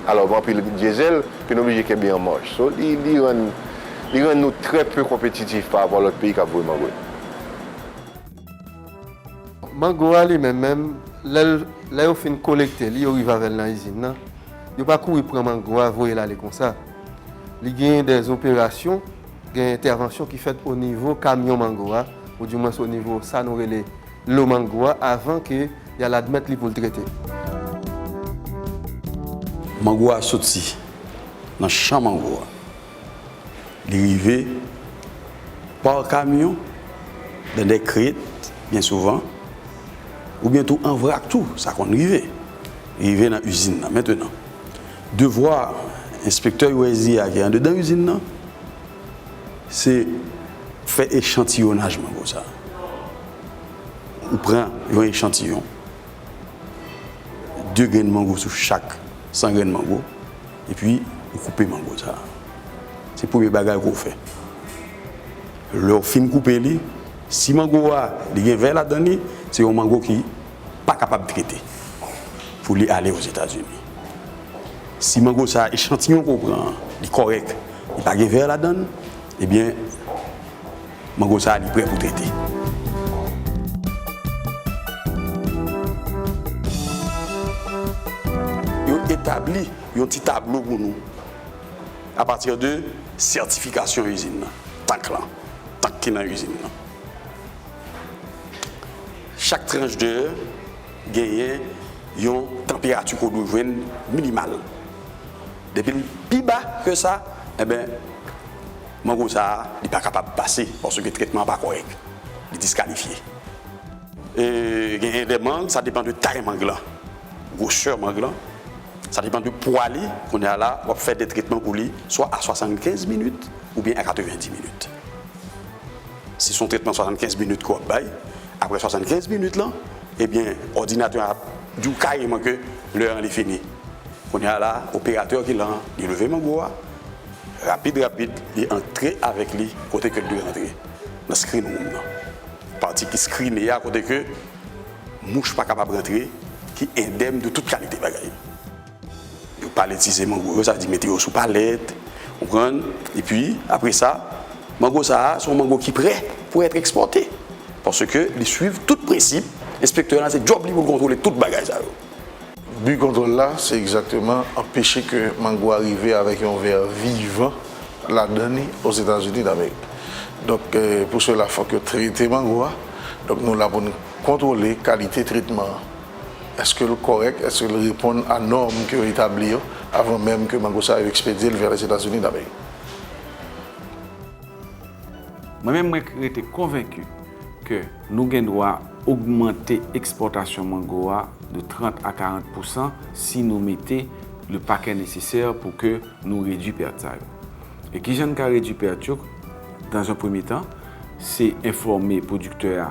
alò gen anpil diesel ke nou oblije kenbe an maj so li rann li rann nou trè peu konpetitif pa rapò a lòt peyi kap voye mango yo. Mango a li menm menm lèl lè yo fin kolekte li yo rive avèl nan izin nan yo pa kouri pran mango a voyel ale konsa li genyen dè operasyon gen entèvansyon ki fèt onivo kamyon mango a ou di mwens onivo sa nou rele Lo mango a avan ke yal admèt li poul trete. Mango a soti nan chan mango a. Li rive pa kamyon, dan dè krèt byen souvan, oubyen tou an vrak tou, sa konn rive. Li rive nan izin nan. Mentenan, devwa enspektè USDA ki andedan izin nan, Se fè echantiyonaj mango sa. Ou pran yon echantiyon, 2 grenn mango sou chak 100 grenn mango, epi ou koupe mango sa. Se premye bagay ke w fè. Lè w fin koupe li, si mango a li gen vè ladan li, se yon mango ki pa kapab trete pou li ale Ozetazini. Si mango sa a, echantiyon ke w pran an, li kòrèk, li pa gen vè ladan l, ebyen mango sa a li prè pou trete. Yo etabli yon ti tablo pou nou apati de sètifikasyon izin nan, tank lan, tank ki nan izin nan. Chak tranch de genyen yon tanperati ke w dwe jwenn minimal. Depi l pi ba ke sa, enben, mango sa a, li pa kapab pase paske tretman an pa kòrèk. Li diskalifye. E genyen de mang, sa depan de tay mang lan, gwosè mang lan, sa depan de pwa li, kounye a la, w ap fè de tretman pou li, swa a 75 minit oubyen a 90 minit. Si son tretman 75 minit ke wap bay, apre 75 minit lan ebyen òdinatè an ap diw kareman ke lè an li fini. Kounya la operatè ki lan li leve mango a rapid rapid li antre avèk li kote kel dwe antre nan screen room nan. Pati ki screene a kote ke mouch pa kapab rantre ki endèm de tout kalite bagay. Yo paletize mango yo, sa vle di mete yo sou palèt, ou konprann? Epi, apre sa, mango sa a, se yon mango ki prè pou èt ekspòte. Paske li suiv tout prensip, enspektè lan se djòb li pou l kontwole tout bagay sa yo. Bi kontwòl la, se egzakteman anpeche ke mango a rive avèk yon vè vivan ladan li Ozetazini Damerik. Donk, pou sela fòk yo trete mango a. Donk, nou la pou n kontwole kalite tretman an. Eske l kòrèk? Eske l reponn a nòm ke yo etabli yo avan menm ke mango sa yo ekspedye l vè Lèzetazini Damerik? Mwen menm mwen rete konvenki ke nou gen dwa ogmante ekspòtasyon mango a de 30 a 40 pousan si nou mete le pakè nesesè pou ke nou redwi pèt sa yo. E kijan n ka redwi pèt yo? Dans un premye tan, se enfòme pwodiktè a.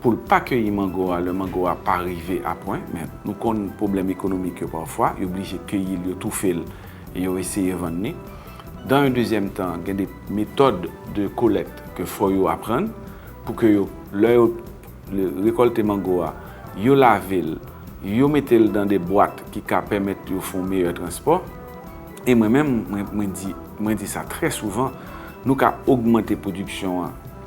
pou l pa keyi mango a lè mango a pa rive a pwen, men nou konn pwoblèm ekonomik yo pafwa, yo blije keyi l, yo toufe l e yo eseye vann li. Dan yon dezyèm tan, gen de metòd de kolèkt ke fò yo aprann pou ke yo, lè yo rekòlte mango a, yo lave l, yo mete l dan de bwat ki ka pèmèt yo fè yon meyè transpò. E mwen menm, mwen di, mwen di sa trè souvan, nou ka ogmante pwodiksyon an,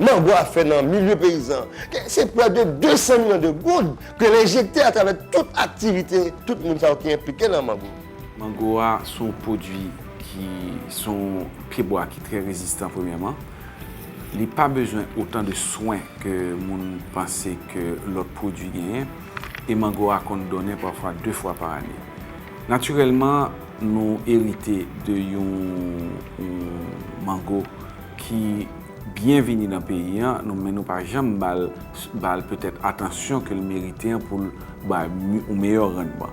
Manbo a fè nan milye peyizan se prè de 200 milyon de goud ke l enjekte atravè tout aktivite tout moun sa yo ki enplike nan mango. Mango a se yon pwodui ki se yon pyebwa ki trè rezistan premyèman. Li pa bezwen otan de swen ke moun panse ke lòt pwodui genyen e mango a konn donnen pafwa 2 fwa pa ane. Natirèlman nou erite de yon mango ki byen vini nan peyi an, nou men nou pa janm ba l, ba l petèt atansyon ke l merite an pou l bay yon meyè randman.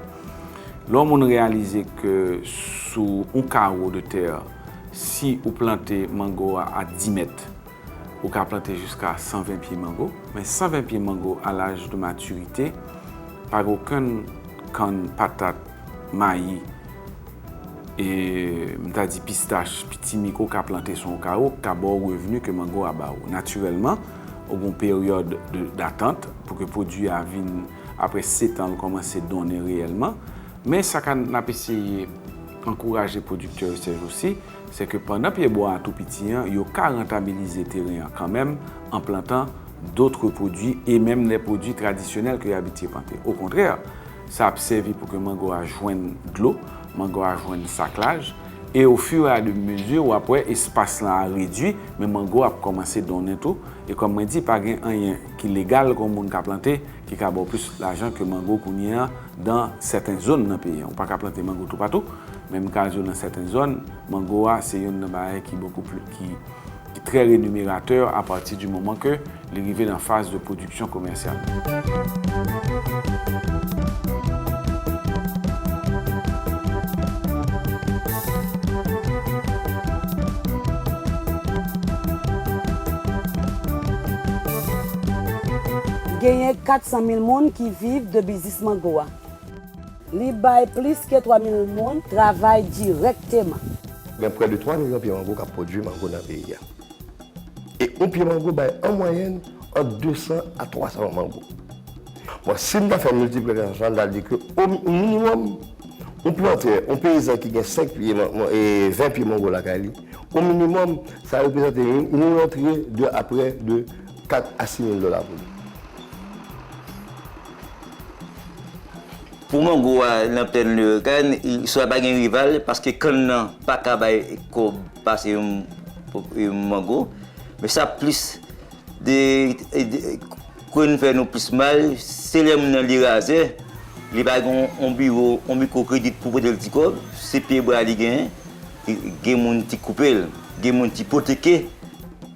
Lè yon moun reyalize ke sou yon kawo de tè, si ou plante mango a a 10 mèt, ou ka plante jiska 120 pye mango, men 120 pye mango a laj de matirite, pa gen okenn kann, patat, mayi, E m ta di pistach, pitimi ke w ka plante sou yon kare w, ki ka ba w revni ke mango a ba ou. Natirèlman, ou gen yon peryòd datant pou ke pwodui a vin, apre setan, l kòmanse donnen reyèlman. Men sa ka n ap eseye ankouraje pwodiktè yo sèjousi, se ke pandan pyebwa a tou piti an, yo ka rantabilize teren an kanmenm an plantan dotre pwodui e menm lè pwodui tradisyonèl ke yo abitye plante. Okontrè! Sa ap sèvi pou ke mango a jwenn dlo, mango a jwenn saklaj, e o fur et a de mesure w ap wè espas lan a redwi, men mango ap kòmanse donnen tou, e kòm mwen di pa gen anyen ki legal ke yon moun ka plante ki ka ba w plis lajan ke mango kounye an dan sèten zòn nan peyi an. Ou pa ka plante mango toupatou, men m ka di w nan sèten zòn, mango a se yonn nan bagay ki bokou pli, ki trè renumerateur a pati di moman ke. Li rive nan faz de pwodiksyon komèsyal. Genyen 400 mil moun ki viv de biznis mango a. Li bay plis ke 3 mil moun travay dirèkteman. Gen prè de 3 milyon pye mango k ap pwodui mango nan peyi a. E yon pye mango bay an mwayèn ant 200 a 300 mango. Bon, si n ta fè miltiplikasyon sa, n ta di ke o minimòm, yon plantè, yon peyizan ki gen 5 pye, 20 pye mango lakay li, o minimòm, sa reprezante yon rantre de aprè de 4 a 6 mil dola pou li. Pou mango a nan plèn Leyogàn, swa pa gen rival, paske kann nan pa ka bay kòb. Pase yon mango. Men sa plis de kwen li fè nou plis mal, se lè moun nan li razè, li pa gen yon biwo, yon mikwo kredit pou pote l ti kòb, se pye bwa li genyen, gen moun ki koupe l, gen moun ki ipoteke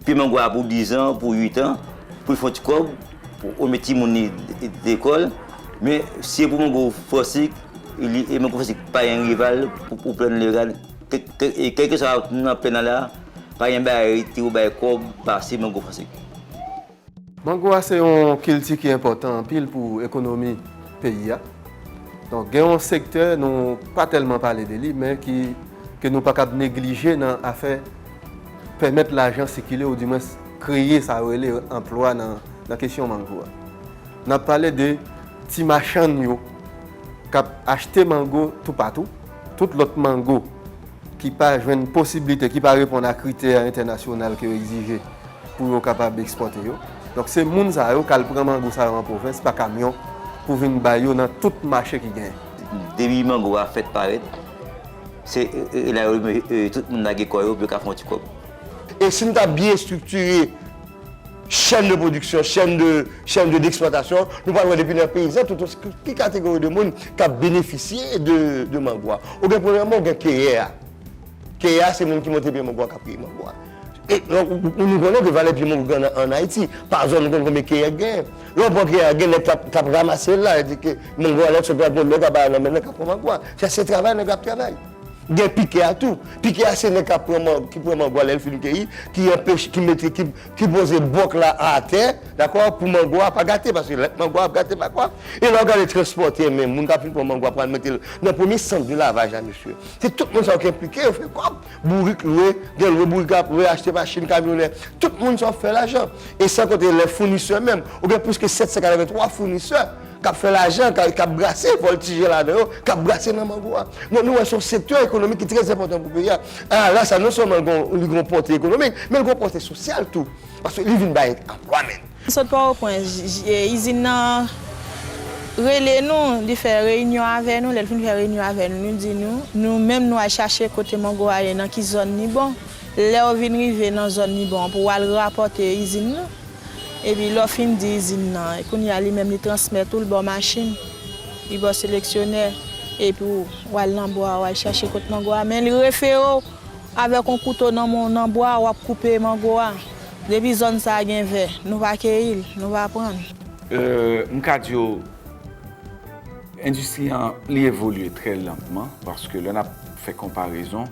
pye mango a pou dizan, pou uitan, pou l fè yon ti kòb, pou l mete timoun li lekòl. Men se pou mango fòsik, mango fòsik pa gen rival pou plenn legal. Kelkeswa sa ou nan plen nan la, pa gen bagay rete ou bay kòb pase mango franse. Mango a se yon kilti ki enpòtan anpil pou ekonomi peyi a. Donk gen yon sektè nou pa tèlman pale de li men ki ke nou pa kab neglije nan afè pèmèt lajan sikile ou di mwens kreye sa yo rele anplwa nan kesyon mango a. N ap pale de ti machann yo k ap achte mango toupatou. Tout lòt mango ki pa jwenn posiblite, ki pa reponn a kritè entènasyonal ke yo egzije pou yo kapab ekspòte yo. Donk se moun sa yo kal pran mango sa yo an pwovens pa kamyon pou vin bay yo nan tout mache ki genyen. Depi mango a fèt parèt, se la yo tout moun lage kò yo pou yo ka fè yon ti kòb. E si nou ta byen estriktire. Chèn de pwodiksyon, chèn de, chèn de d'exploitation, nou pral wè depi nan peyizan tout o, ki kategori de moun k ap benefisye de, de mango a. Ou gen premyèman ou gen keyè a. Keyè a se moun ki monte pye mango a k ap keye mango a. E, nou konnen ke valè pye mango gen an Ayiti. Pa zòn nou konnen konbyen keyè k genyen. Lè ou pran keyè a gen nèg k ap, k ap ramase l la, e di ke mango a lè l sot la gon nèg a ba l nan men l nan k ap pran mango a. Sa se travay nèg la ap travay. Gen pike a tou. Pike a se nèg kap pran man, ki pran mango a lèl fin keyi, ki anpeche, ki mete, ki poze bòk la atè, dakò, pou mango a pa gate, paske lè mango a ap gate pa kwa. E lè w gade transpòtè menm, moun kap fin pran mango a pral mete l nan premye sant de lavaj la mesye. Se tout moun sa yo ki enplike, yo fè kòb. Bourik lwe, gen lwe bourik ap lwe, achte machin, kamyonè. Tout moun sa yo fè lajan. E san konte lè founisè menm, ou gen plis ke 783 founisè. k ap fè lajan, k ap brase, vòltije ladan yo, k ap brase nan mango a. Donk nou wè se yon sektè ekonomik ki trè enpòtan pou peyi a. A la sa non sèlman li gen yon pòte ekonomik, men li gen yon pòte sosyal tou, paske li vin bay anplwa menm. Mwen sot Pòtoprens, izin nan rele nou, li fè reyinyon avè nou, lè l fin fè reyinyon avè nou, li di nou, nou menm nou al chache kote mango a ye, nan ki zòn li bon, Lèw vin rive nan zòn li bon pou wal rapòte izin nan epi lèw fin di izin nan kounye a li menm li transmèt oul baw machin li baw seleksyonè epi wal nan bwa wal chache kot mango a men li referew avèk on kouto nan bwa wap koupe mango a depi zòn sa gen vè nou pa keyil nou pa pranl. Mka diw endistri an li evolye trè lantman paske lè nap fè konparezon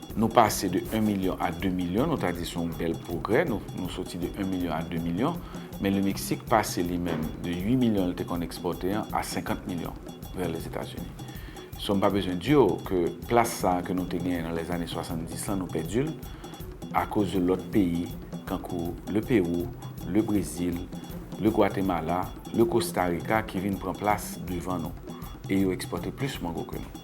Nou pase de 1 milyon a 2 milyon, nou ta di se yon bèl pwogrè, nou soti de 1 milyon a 2 milyon, men Le Meksik pase li menm de 8 milyon li te konn ekspòte an a 50 milyon vè Lèzetazini. So m pa bezwen di w ke plas sa a ke nou te genyen nan lèzane 70 lan nou pèdi l akoz de lòt peyi kankou Le Pewou, Le Brezil, Le Gwatemala, Le Kostarika ki vin pran plas devan nou e yo ekspòte plis mango ke nou.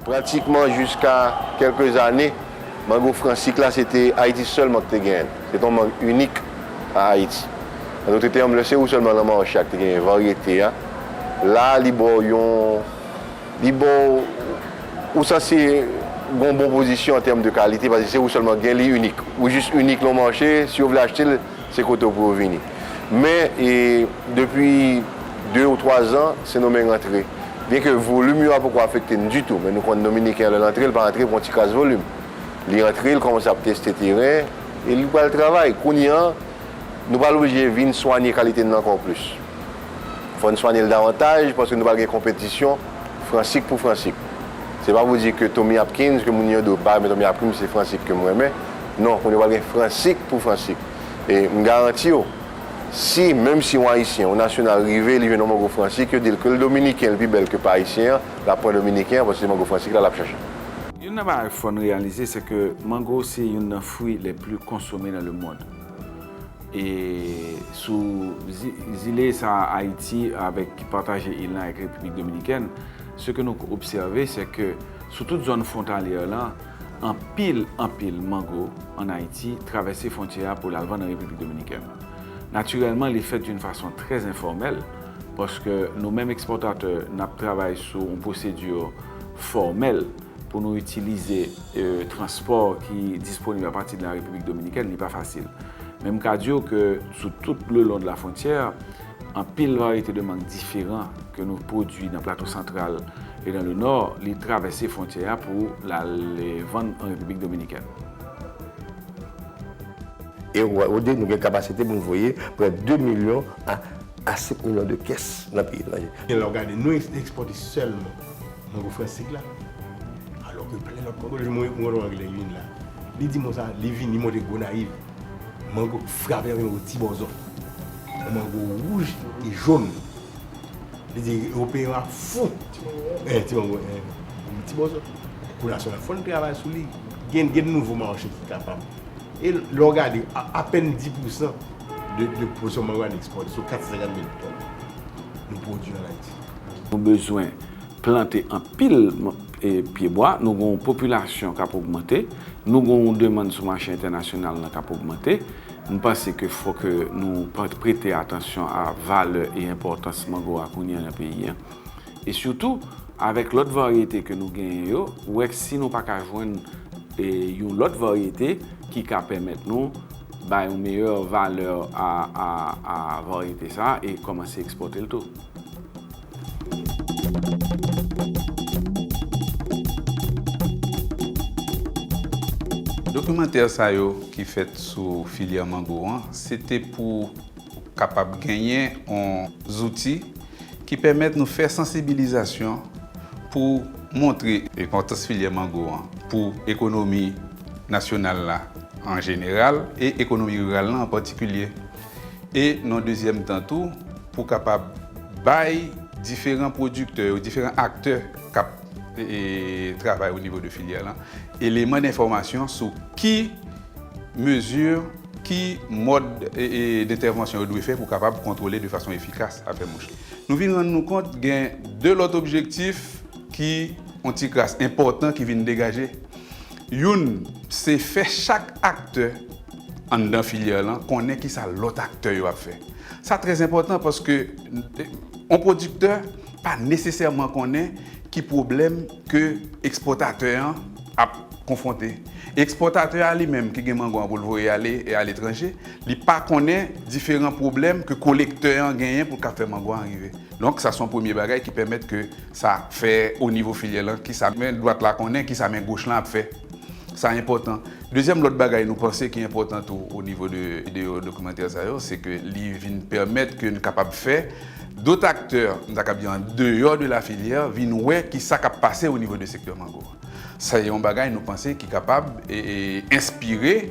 Pratikman jiska kèlke zane, mang ofransik la se te Ayiti sèlman ki te genyen l. Se te yon mang inik a Ayiti. Nan nou te te anble se ou sèlman nan mache a ki te genyen varyete a. La a li ba w yon, li ba w, ou sanse gen yon bon pozisyon an tèm de kalite paske se ou sèlman ki gen li inik. Ou jis inik nan yon mache, si yo vle achte l, Se kote w pou yo vini. Men, depi 2 ou 3 zan, Sendomeng antre. Byenke volim yo a poko afekte n ditou, men nou konn Dominiken an lè l antre, l pa antre pou yon ti kras volim. Li antre, li kòmanse ap teste teren e li pral travay. Kounye an, nou pral oblije vin swanye kalite n nan ankò plis. Fò n swanye l davantaj paske nou pral gen konpetisyon fransik pou fransik. Se pa pou di ke Tommy Hopkins ke moun yo do pa renmen Tommy Hopkins se fransik ke m renmen. Non, kounye pral gen fransik pou fransik. E m garanti w, si menm si yon Ayisyen, yon nasyonal rive li jwenn yon mango fransik, yo di l ke l dominiken li pi bèl ke pa Ayisyen an, l ap pran dominiken an paske se mango fransik la l ap chache. Youn nan bagay fò n reyalize se ke mango se youn nan fwi le pli konsome nan le mond. E sou zile sa a Ayiti avèk ki pataje il lan avèk Repiblik Dominikèn, se ke nou k obsève se ke sou tout zòn fwontalyè lan, anpil anpil mango an Ayiti travèse fwontyè a pou l al vann an Repiblik Dominikèn. Natirèlman li fèt doun fason trè enfòmèl paske nou menm ekspòtatè n ap travay sou yon pwosedi fòmèl. Pou nou itilize transpò ki disponib a pati de la Repiblik Dominikèn, li pa fasil. Men m ka di w ke sou tout le long de la frontière, anpil varyete de mang diferan ke nou pwodui nan Plato Santral e nan le Nord, li travèse frontyè a pou l al vann an Repiblik Dominikèn. E ou di nou gen kapasite pou nou voye prè 2 milyon a 5 milyon de kès nan peyi etranje. Gen lè ou gade nou ekspòte sèlman Mwen wè Fransik la, alò ke plen lòt Kongolè, mwen wè yon Anglè vin la, li di mo sa, li vin, li monte Gonayiv, mango frape avèk yon ti bòzò. Yon mango wouj e jòn. Li di Ewopeyen yo ap fou de ti mango sa. Yon ti bòzò. Pou nasyon an, fò n travay sou li. Gen de nouvo mache ki kapab. E lè w gade, apèn 10 pousan de pwodiksyon mango a n ekspòte, sou 450 mil tòn, nou pwodui an Ayiti. Nou bezwen plante anpil pye bwa, nou gen yon popilasyon k ap ogmante, nou gen yon demann sou mache entènasyonal lan k ap ogmante. M panse ke fò ke nou prete atansyon a valè e enpòtans mango a kounye a nan peyi a. E sitou, avèk lòt varyete ke nou genyen yo, wè si nou pa ka jwenn yon lòt varyete ki ka pèmèt nou bay yon meyè valè a varyete sa a e kòmanse ekspòte l tou. Dokimantè sa yo ki fèt sou filyè mango an, se te pou kapab genyen on zouti ki pèmèt nou fè sansibilizasyon pou montre enpòtans filyè mango an pou ekonomi nasyonal la an jeneral e ekonomi riral lan an patikilye. e nan dezyèm tan tou pou kapab bay diferan pwodiktè yo, diferan aktè k ap travay o nivo de filyè lan eleman denfòmasyon sou ki mezi, ki mòd dentèvansyon yo dwe fè pou kapab kontwole de fason efikas afè mouch. Nou vin rann nou kont gen de lòt objektif ki on ti kras enpòtan ki vin degaje. Youn se fè chak aktè. anndan filyè lan konnen kisa lòt aktè yo ap fè. Sa trè enpòtan paske yon pwodiktè pa nesesèman konnen ki pwoblèm ke ekspòtatè an ap konfwonte. Ekspòtatè a li menm ki gen mango an pou l voye ale aletranje, li pa konnen diferan pwoblèm ke kolektè an genyen pou l ka fè mango an rive. Donk sa se yon premye bagay ki pèmèt ke sa fè onivo filyè lan kisa men dwat la konnen, kisa men goch lan ap fè. Sa enpòtan. Dezyèm lòt bagay nou panse ki enpòtan tou o nivo de video dokimantè sa yo, se ke li vin pèmèt ke n kapab fè dot aktè, m ta kab di an deyò de la filyè, vin wè ki sa k ap pase o nivo de sektè mango a. Sa e yon bagay nou panse ki kapab enspire.